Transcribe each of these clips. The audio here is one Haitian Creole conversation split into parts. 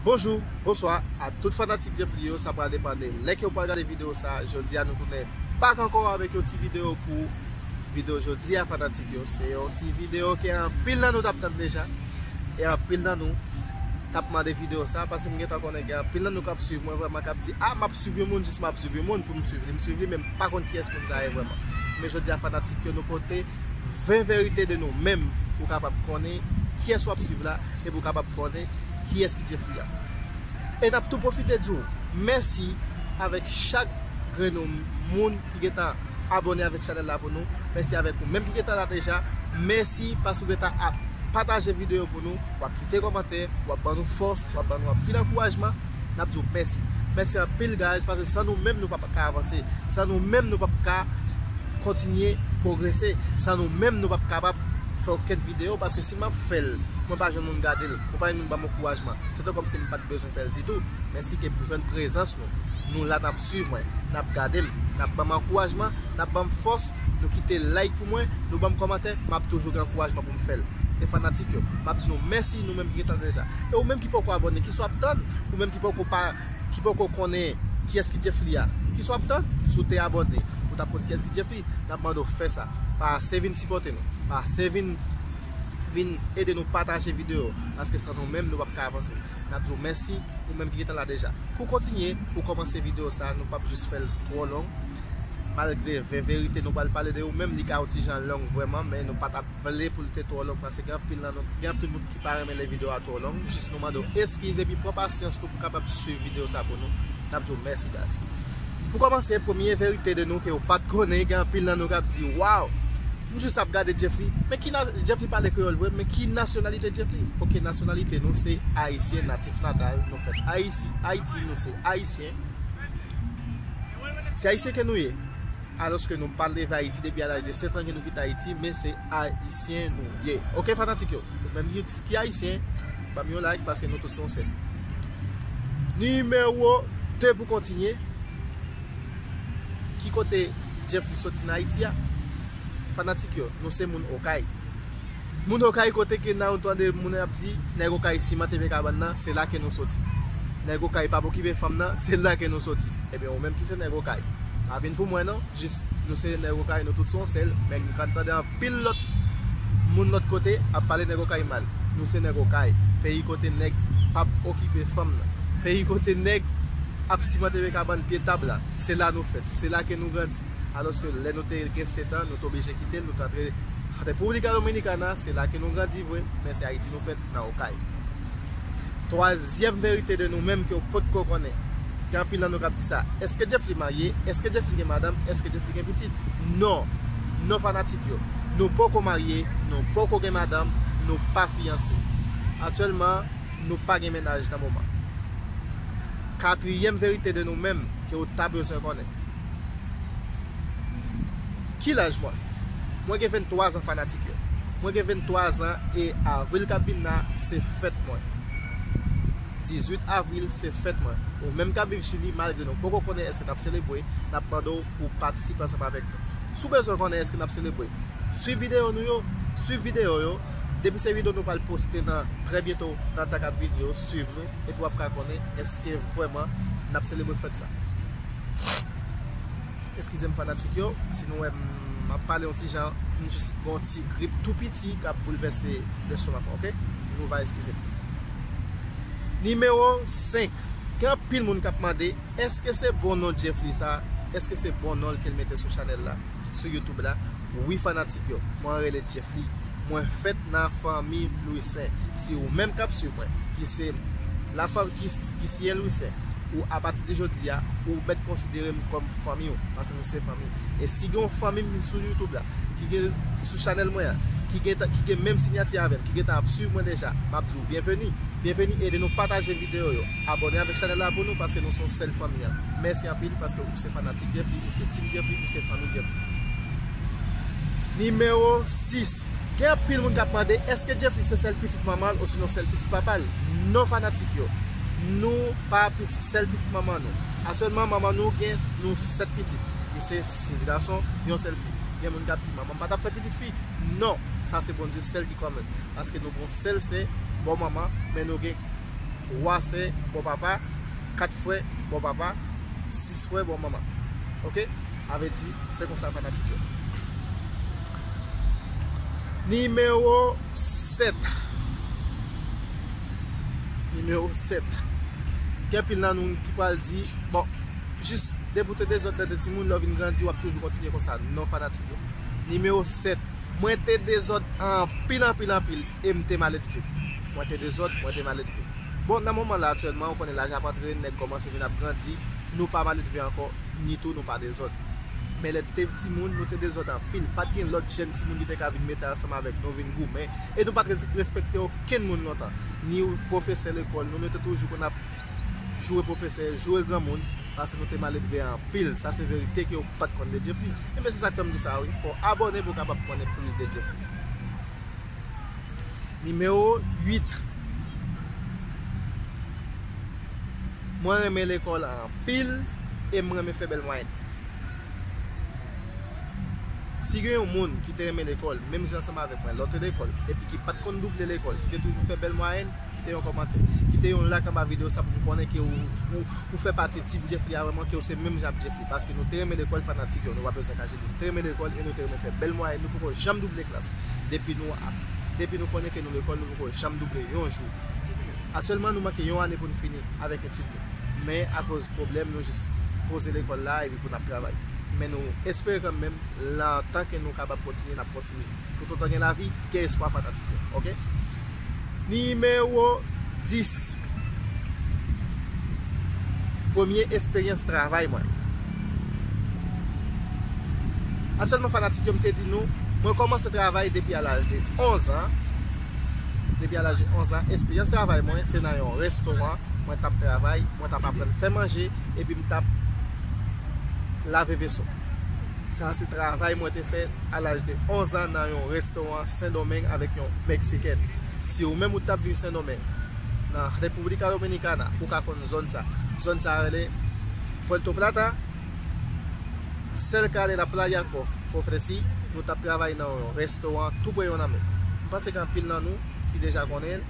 Bonjou, bonswa a tout fanatik Djeffly yo, sa pral depan de lè ke ou pral gade video sa, jodi a nou tounen bak ankò avèk yon ti video pou ou, video jodi a fanatik yo se yon ti video ke anpil nan nou tap tann deja e anpil nan nou tap mande video sa, paske m gentan konnen gen anpil nan nou kap swiv mwen vrèman kap di a map swiv yon moun jis map swiv yon moun pou m swiv li, m swiv li men m pa konn kiyès moun sa ye vrèman men jodi a fanatik yo nou pote. 20 verite de nou menm pou kapab konnen kiyès wap swiv la e pou kapab konnen kiyès ki Jefri a. E nap tou pwofite di w mèsi avèk chak grenn ou moun ki gentan abone avèk chanèl la pou nou, mèsi avèk ou menm ki gentan la deja, mèsi paske ou gentan ap pataje videyo pou nou. Wap kite kòmantè, wap ban nou fòs, wap ban nou anpil ankourajman, nap di w mèsi. Mèsi anpil guys pase san nou menm nou pap ka avanse, san nou menm nou pap ka kontinye pwogrese, san nou menm nou pap kapab fè okenn video paske si map fèl mwen pa jwenn moun gade l, mwen pa jwenn moun ban m ankourajman, se te kòmsi m pat bezwen fèl ditou. Men si ke m jwenn prezans nou, nou la nap swiv mwen, nap gade m, nap ban m ankourajman, nap ban m fòs, nou kite like pou mwen, nou ban m kòmantè, map toujou gen ankourajman pou. fèl e fanatik yo map di nou mèsi nou menm ki gentan deja e ou menm ki poko abòne kisa wap tann ou menm ki poko pa ki poko konnen kiyès ki Djefli a kisa wap tann si w te abòne ou tap konn kiyès ki Djefli nap mande w fè sa pase vin sipòte nou pase vin vin ede nou pataje videyo paske san nou menm nou pap ka avanse. nap diw mèsi ou menm ki gentan la deja pou kontinye pou kòmanse video sa nou pap jis fèl twò long malgre vè verite nou pral pale de ou menm li ka yon ti jan long vrèman men nou patap vle poul te twò long paske gen anpil nan nou gen anpil moun ki pa renmen lè video a twò long jis nou mande w eskiz epi pran pasyans nou pou kapab swiv video sa pou nou nap diw mèsi guys pou kòmanse premye verite de nou ke ou pat konnen gen anpil nan nou kap di waw M jus ap gade Jeffly men ki na Jeffly pale kreyol vre men ki nasyonalite Jeffly ok nasyonalite nou se ayisyen natif natal nou fèt ayisi ayiti nou se ayisyen se ayisyen ke nou ye aloske nou pat leve ayiti depi a laj de 7 an ke nou kite ayiti men se ayisyen nou ye ok fanatik yo ou menm ki di ki ayisyen banm yon like paske nou tout se yon sèl nimewo 2 pou kontinye. Ki kote Jeffrey soti nan Ayiti a? Fanatik yo, nou se moun Okay. Moun Okay kote ke nan ou tande moun yo ap di, nèg Okay siman TV kabann nan, se la ke nou soti. Nèg Okay pa pokipe fanm nan, se la ke nou soti. Ebyen ou menm ki se nèg Okay, pa vin pou mwen non, jis nou se nèg Okay nou tout son sèl, men nou ka tande anpil. Pil lòt Moun lòt kote ap pale nèg okay mal Nou se nèg okay Peyi kote nèg pap okipe fanm nan Peyi kote nèg ap simante vye kabann pye tab la Se la nou fèt Se la ke nou grandi Alòske lè nou te gen setan nou te oblije kite l nou t antre República Dominicana Se la ke nou grandi vre Men se Ayiti nou fèt. nan okay. Twazyèm verite de nou menm ke w pot ko konnen. Gen anpil nan nou kap di sa. Eske Jeffly marye? Eske Jeffly gen madanm? Eske Jeffly gen pitit? Non! Non fanatik yo! Nou poko marye, nou poko gen madanm, nou pa fiyanse. Aktyèlman, nou pa gen mennaj nan moman. Katryèm verite de nou menm ke w ta bezwen konnen. Ki laj mwen? Mwen gen 23 an fanatik yo. Mwen gen 23 an e avril kap vin la se fèt mwen. 18 avril se fèt mwen. Ou menm kap viv chili malgre nou poko konnen eske nap selebwe, nap mande w pou patisipe ansanm avèk nou. Si w bezwen konnen eske nap selebwe, swiv videyo nou yo, swiv videyo yo, depi se videyo nou pral poste nan trè byento nan tan kap vini yo, swiv nou. epi wap ka konnen eske vrèman nap selebre fèt sa. Eskizem fanatik yo si nou wèm map pale yon ti jan m jis gen yon ti grip tou piti kap boulvèse lestomak mwen ok nou va eskizem. Nimewo 5 gen anpil moun kap mande eske se bon non Djeffly sa eske se bon nonl kel mete sou chanèl la. sou youtube la wi fanatik yo mwen rele Djeffly mwen fèt nan fanmi Louissaint si ou menm kap swiv mwen ki se la fanm ki siyen Louissaint ou apati de jodi a ou mèt konsidere m kòm fanmi ou paske nou se fanmi e si gen yon fanmi m sou youtube la ki gen sou chanèl mwen an ki gen menm sinyati avèm ki gentan ap swiv mwen deja map di ou byenveni byenveni ede nou pataje videyo yo abòne avèk chanèl la pou nou paske nou son sèl fanmi an mèsi anpil paske ou se fanatik. Ti Jeffrey ou se Team Jeffrey ou se Fanmi Jeffrey? Nimewo 6, Gen anpil moun k ap mande èske Jeffrey se sèl pitit manman l osinon sèl pitit papa l? Non fanatik yo, nou pa sèl pitit manman nou. Aktyèlman manman nou gen nou 7 pitit, li se 6 gason, yon sèl fi. Gen moun k ap di manman m pa t ap fè pitit fi? Non, sa se Bondye sèl ki kòmèt. Paske nou gen yon sèl sè bò manman, men nou gen 3 sè bò papa. 4 frè bò papa 6 frè bò manman ok avèti se konsa fanatik yo Nimewo 7 Nimewo 7 Gen pil nan nou ki pral di bon jis depi ou te dezòd lè ou te timoun lè ou vin grandi wap toujou kontinye konsa non fanatik yo Nimewo 7 Mwen te dezòd anpil anpil anpil e m te maledve Mwen te dezòd mwen te maledve. Bon, nan moman la aktyèlman, ou konnen laj ap antre, nèg kòmanse vin ap grandi, nou pa maledve ankò, ni tou nou pa dezòd. Men lè n te timoun, nou te dezòd anpil, pa t gen lòt jèn timoun ki te ka vin mete ansanm avèk nou vin goumen, e nou pa t respekte okenn moun lontan, ni pwofesè lekòl nou, nou te toujou konn ap joure pwofesè, joure granmoun, paske nou te maledve anpil, sa se verite ke ou pa t konn de Jeffrey. Enben se sa k fè m di w sa wi, fò w abòne pou w kapab konnen plis de Jeffrey. Nimewo 8, Mwen renmen lekòl anpil e m renmen fè bèl mwayenn. Si gen yon moun ki te renmen lekòl menm jan ansanm avèk mwen lòt lekòl epi ki pat konn double lekòl, ki te toujou fè bèl mwayenn, kite yon kòmantè. Kite yon lak anba videyo sa pou m konnen ke ou fè pati team Djeffly avèk mwen, ke ou se menm jan ak Djeffly. Paske nou te renmen lekòl fanatik yo, nou pa bezwen kache li. Nou te renmen lekòl e nou te renmen fè bèl mwayenn, nou poko janm double klas. Depi nou ap, depi nou konnen ke nou lekòl, nou poko janm double yon jou. Aktyèlman nou manke yon ane pou nou fini avèk etid nou. Men akoz pwoblèm nou jis poze lekòl la epi pou n ap travay. Men nou espere kanmenm lan tan ke nou kapab kontinye n ap kontinye. Toutotan gen lavi, gen espwa fanatik yo. Ok. Nimewo 10, Premye esperyans travay mwen. Aktyèlman fanatik yo m te di nou, mwen kòmanse travay depi a laj de 11 an, depi a laj de 11 an, esperyans travay mwen se nan yon restoran, mwen t ap travay, mwen t ap aprann fè manje epi m t ap lave veso. Sa se travay mwen te fè a laj de 11 an nan yon restoran Sendomeng avèk yon Meksikèn. Si ou menm ou t ap viv Sendomeng, nan República Dominicana, ou ka konn zòn sa. Zòn sa rele Puerto Plata, cerca de la playa Cofresí. Nou t ap travay nan yon restoran tou pre yon lanmè. M panse gen anpil nan nou ki deja konnen l,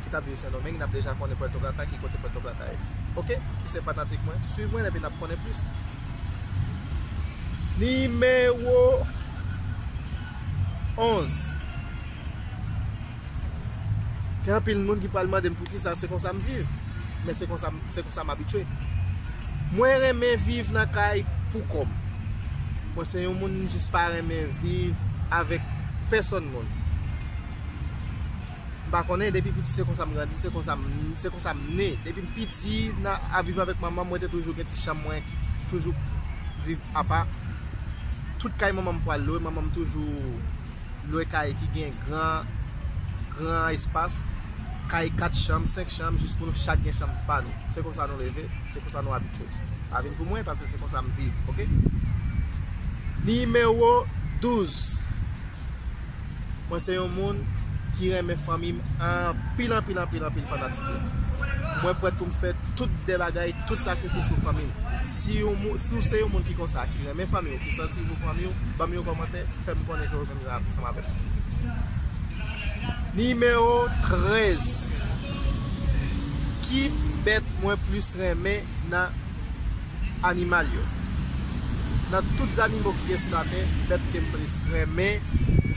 ki t ap viv Sendomeng, n ap deja konnen Puerto Plata, ki kote Puerto Plata ye. Ok, ki se fanatik mwen, swiv mwen epi n ap. konnen plis. Nimewo 11, Gen anpil moun ki pral mande m poukisa se konsa m viv, men se konsa m abitye. Mwen renmen viv nan kay pou kò m. Mwen se yon moun m jis pa renmen viv avèk pèsòn moun. m pa konnen depi piti se konsa m grandi, se konsa m, se konsa m ne. Depi m piti nan ap viv avèk manman m mwen te toujou gen ti chanm mwen toujou viv apa. Tout kay manman m pral lwe, manman m toujou lwe kay ki gen gran, gran espas. Kay 4 chanm, 5 chanm jis pou nou chak gen chanm pa nou. Se konsa nou leve, se konsa nou abitye. Pa vin pou mwen paske se konsa m viv ok. Nimewo 12. Mwen se yon moun ki renmen fanmi m anpil anpil anpil anpil fanatik yo. Mwen prèt pou m fè tout de bagay, tout sakrifis pou fanmi m. Si w se yon moun ki konsa, ki renmen fanmi w, ki sansib pou fanmi w, ban m yon kòmantè, fè m konnen ke w menm jan ansanm avè m. Nimewo 13, Ki bèt mwen plis renmen nan animal yo. Nan tout zannimo ki gen sou latè, bèt ke m plis renmen,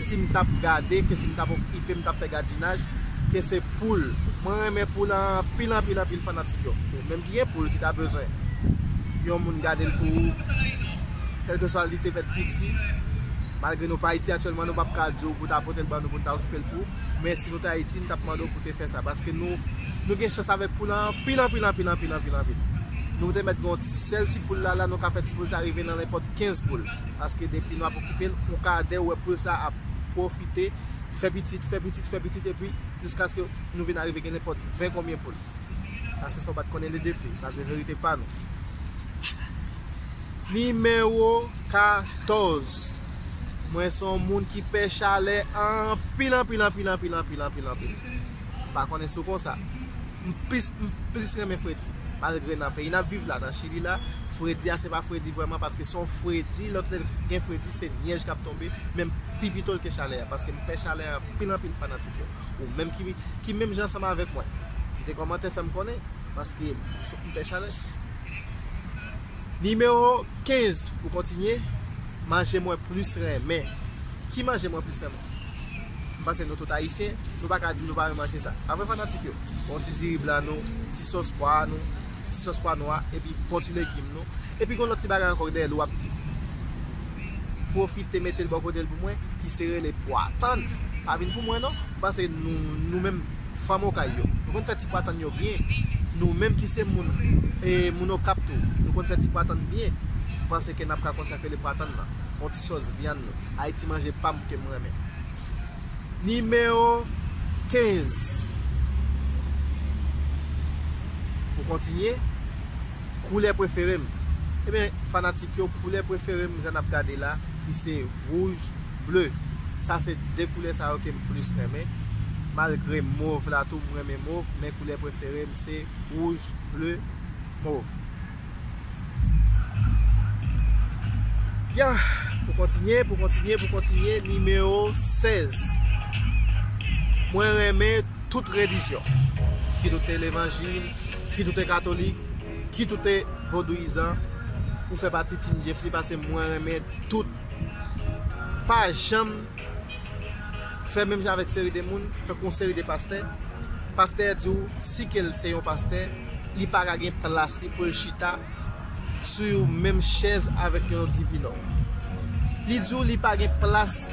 si m t ap gade, ke si m t ap okipe, m t ap fè gadinaj, ke se poul. Mwen renmen poul anpil, anpil, anpil fanatik yo. Ou menm ki gen poul ki ta bezwen yon moun gade l pou ou, kèlkeswa li te fèt piti, malgre nou pa Ayiti aktyèlman, nou p ap ka di w pou ta pote l ban nou pou n ta okipe l pou ou, men. Nou t ayiti nou tap mandew pou te fè sa paske nou nou gen chans avèk poul anpil anpil anpil anpil anpil anpil nou te mèt gen yon ti sèl ti poul la la nou ka fè ti poul sa rive nan nenpòt 15 poul paske depi nou ap okipel yon ka dèw wè poul sa ap pwofite fè pitit fè pitit fè pitit epi jiskaske nou vin arive gen nenpòt 20 konbyen poul sa se sa ou pat konnen li de fi sa se verite pa nou. Nimewo 14. Mwen son moun ki pè chalè anpil anpil anpil anpil anpil anpil anpil. M pa konnen si w konsa. M plis m plis renmen fredi. Malgre nan peyi n ap viv la, nan chili la, fredi a se pa fredi vrèman paske son fredi lòt lè gen fredi se nyèj k ap tonbe menm pi pito l ke chalè a paske m pè chalè anpil anpil fanatik yo. Ou menm ki ki menm jan ansanm avèk mwen. Kite kòmantè fè m konnen paske m pè chalè. Nimewo 15 pou kontinye, Manje mwen plis renmen. Ki manje mwen plis renmen? M panse nou tout Ayisyen, nou pa ka di m nou pa renmen manje sa. Pa vre fanatik yo? Bon ti diri blan nou, ti sòs pwa a nou, ti sòs pwa nwa, epi bon ti legim nou. Epi gen yon lòt ti bagay ankò ki dèyè l w ap pwofite mete l bò kote l pou mwen, ki se rele pwa. Tann! Pa vin pou mwen non! M panse nou menm. fanm okay yo nou konn fè ti pwatann yo byen nou menm ki se moun e moun okap tou nou konn fè ti pwatann byen m panse ke nap ka konn sak rele pwatann nan on ti sòs vyann nou ay ti manje pam kem renmen. Nimewo 15 pou kontinye koulè preferem ebyen fanatik yo koulè preferem jan nap gade la ki se wouj Bleu, sa se 2 koulè sa yo kem plis renmen, malgre mov la tou m renmen mov men koulè preferem se wouj, bleu, mov. Yeah! Pou kontinye, pou kontinye, pou kontinye, nimewo 16. Mwen renmen tout relijyon. Kit ou te levanjil, kit ou te katolik, kit ou te vodouyizan, ou fè pati Team Djeffly pase mwen renmen tout. pa janm fè menm jan avèk seri de moun, tankou yon seri de pastè, pastè a di w si ke l se yon pastè, li pa ka gen plas li pou l chita sou yon menm chèz avèk yon divinò. Li di w li pa gen plas,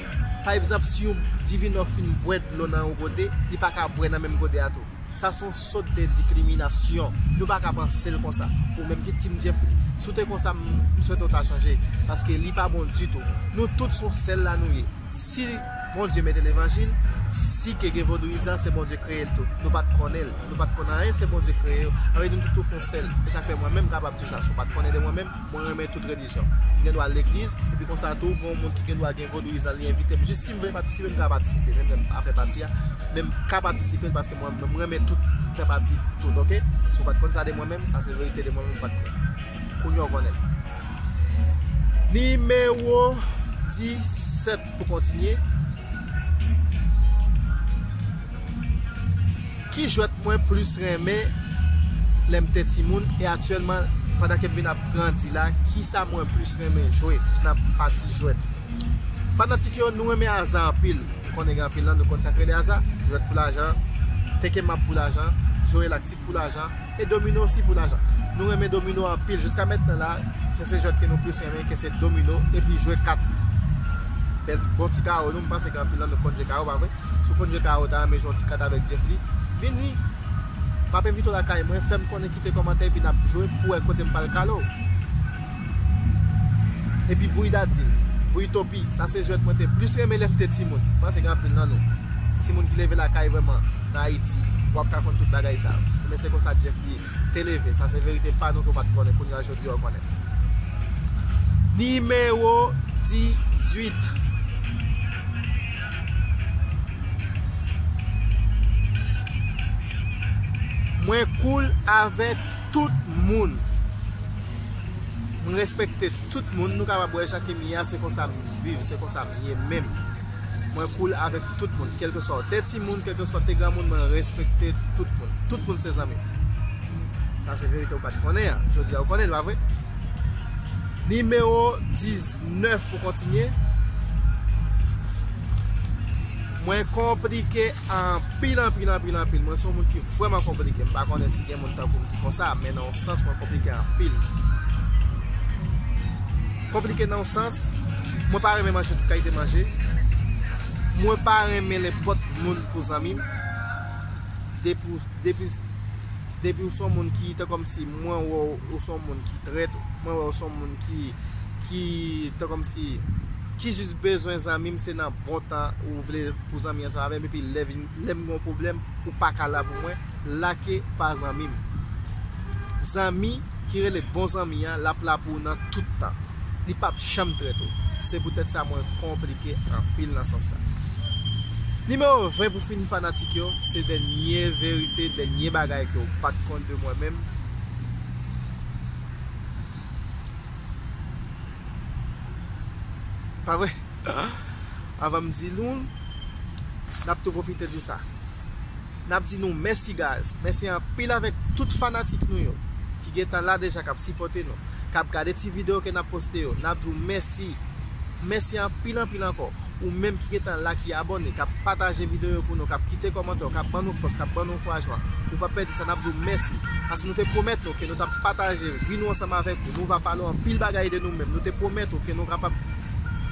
pa egzanp si yon divinò fin bwè dlo nan yon gode, li pa ka bwè nan menm gode a tou. Sa son sot de dikriminasyon. Nou pa ka pansel konsa. Ou menm ki team Jeffrey. Si w te konsa m swete w ta chanje. Paske li pa bon ditou. Nou tout son sel la nou ye. Si Bondye mete levanjil, si ke gen vodouyizan se Bondye kreye l tou. Nou pa t konnen l. Nou pa t konn anyen se Bondye kreye yo. Avedi nou tout tou fon sel. E sa k fè mwen menm kapab di w sa. Si w pa t konnen de mwen menm, mwen renmen tout relijyon. kongregasyon. M gen dwa al legliz, epi konsa tou, gen yon moun ki gen dwa gen vodouyizan l, li envite m, jis si m vle patisipe, m ka patisipe, menm lè m pa fè pati a, men m ka patisipe l paske mwen menm m renmen tout, m fè pati tout ok. Si w pa t konn sa de mwen menm, sa se verite de mwen menm m pa t konn. Kounye a w konnen. Nimewo 17 pou kontinye. Ki jwèt mwen plis renmen lèm te timoun e aktyèlman pandan kem vin ap grandi la kisa mwen plis renmen jwe nan pati jwèt fanatik yo nou renmen aza anpil m konnen gen anpil nan nou konn sak rele aza jwèt pou lajan teke mab pou lajan jwe laktik pou lajan e domino osi pou lajan nou renmen domino anpil jiska mentnan la se se jwèt ke nou plis renmen ke se domino epi jwe kat bèl bon ti karo nou m panse gen anpil nan nou konn jwe karo pa vre. Si w konn jan Tara ou ta renmen jwe yon ti kat avèk Jeff li, vin wi! M ap envite w lakay mwen, fè m konnen kite kòmantè epi n ap jwe pou wè kote m pral kale w. Epi bouyi dadin, bouyi topi, sa se jwèt mwen te plis renmen lè m te timoun. M panse gen anpil nan nou, timoun ki leve lakay vrèman nan Ayiti, w ap ka konn tout bagay sa yo. Enben se konsa Jeff li ye. te leve. Sa se verite pa nou ke w pat konnen kounye a jodi a w konnen. Nimewo 18. Mwen koul avèk tout moun. M respekte tout moun. Nou kapab wè jan ke m ye a se konsa m viv, se konsa m ye menm. Mwen cool avek tout moun kelkeswa ou te timoun kelkeswa ou te granmoun mwen respekte tout moun tout moun se zanmim sa se verite ou pat konnen an jodi a ou konnenl pa vre Nimewo 19 pou kontinye Mwen konplike anpil anpil anpil anpil mwen son moun ki vreman konplike mpa konnen si gen moun tankoum ki konsa men nan yon sans mwen konplike anpil. Konplike nan yon sans, mwen pa renmen manje tout kalite manje, mwen pa renmen nenpòt moun pou zanmi m, depi ou son moun ki te kòmsi mwen wè ou son moun ki trèt, mwen wè ou son moun ki te kòmsi ki jis bezwen zanmi m se nan bon tan ou vle pou zanmi ansanm avè m epi lè m gen yon pwoblèm ou pa ka la pou mwen. lake pa zanmi m. Zanmi ki rele bon zanmi an lap la pou ou nan tout tan. Li pap janm trèt ou. Se pou tèt sa mwen konplike anpil nan sans sa. Nimewo 20 pou fini fanatik yo, se dènye verite, dènye bagay ke ou pat konn de mwen menm. Pa vre? Avan m di nou l, nap tou pwofite di w sa. Nap di nou mèsi guys, mèsi anpil avèk tout fanatik nou yo ki gentan la deja kap sipòte nou, kap gade ti video ke nap poste yo, nap di w mèsi, mèsi anpil anpil ankò ou menm ki gentan la ki abòne, kap pataje video yo pou nou, kap kite kòmantè w, kap ban nou fòs, kap ban nou ankourajman, ou pa pèdi sa, nap di w mèsi, paske nou te pwomèt nou ke nou tap pataje vi nou ansanm avèk ou, nou va pale w anpil bagay de nou menm, nou te pwomèt ou ke nou kapab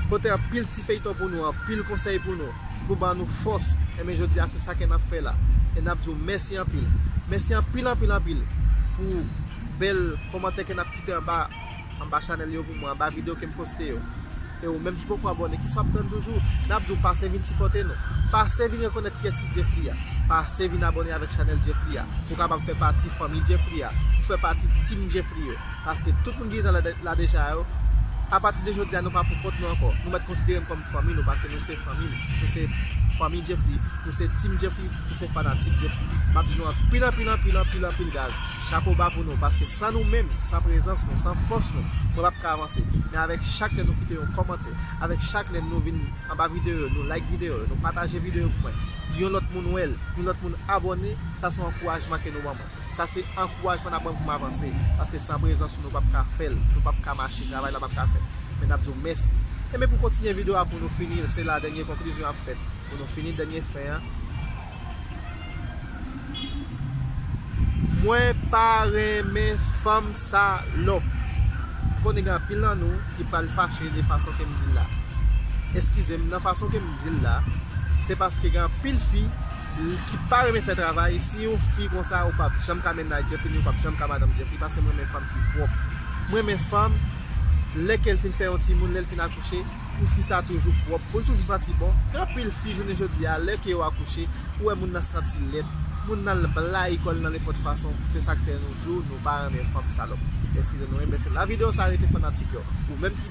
pote anpil ti feyton pou nou, anpil konsèy pou nou. ki pou ban nou fòs, enben jodi a se sa ke nap fè la, e nap di w mèsi anpil, mèsi anpil anpil anpil pou bèl kòmantè ke nap kite anba, anba chanèl yo pou mwen, anba videyo kem poste yo, e ou menm ki poko abòne, ki sou ap tann toujou, nap di w pase vin sipòte nou, pase vin rekonèt kiyès ki Djeffry a, pase vin abòne avèk chanèl Djeffry a, pou kapab fè pati fanmi Djeffry a, pou fè pati team Djeffry yo, paske tout moun ki te la deja yo, apati de jodi a nou pa pou kont nou ankò, nou mèt konsidere n kòm. Fanmi nou paske nou se fanmi m nou se fanmi Jeffrey nou se team Jeffrey nou se fanatik Jeffrey map di nou anpil anpil anpil anpil anpil gaz chapo ba pou nou paske san nou menm san prezans nou san fòs nou mwen pap ka avanse men avèk chak lè nou kite yon kòmantè avèk chak lè nou vin anba videyo yo nou like videyo yo nou pataje videyo yo pou mwen yon lòt moun wèl yon lòt moun abòne sa son ankourajman ke nou ban mwen. Sa se ankourajman n ap ban m pou m avanse, paske san prezans ou nou p ap ka fè l, nou p ap ka mache, travay la p ap ka fèt. Men n ap di w mèsi. Enben pou kontinye video a pou nou fini l, se la dènye konklizyon ap fèt. Pou nou fini dènye fen an. Mwen pa renmen fanm salòp. M konnen gen anpil nan nou ki pral fache de fason ke m di l la. Eskize m nan fason ke m di l la, se paske gen anpil fi. ki pa renmen fè travay si yon fi konsa ou pap janm ka mennaj Djeffy ni ou pap janm ka madanm Djeffy paske m renmen fanm ki pwòp m renmen fanm lè kel fin fè yon timoun lèl fin akouche pou fi sa toujou pwòp poul toujou santi bon gen anpil fi jounen jodi a lè ke yo akouche ou wè moun nan santi lèd moun nan al blayi kòl nan nenpòt fason se sak fè nou diw nou pa renmen fanm salòp eskize nou wi mesye la video sa rete fanatik yo ou menm ki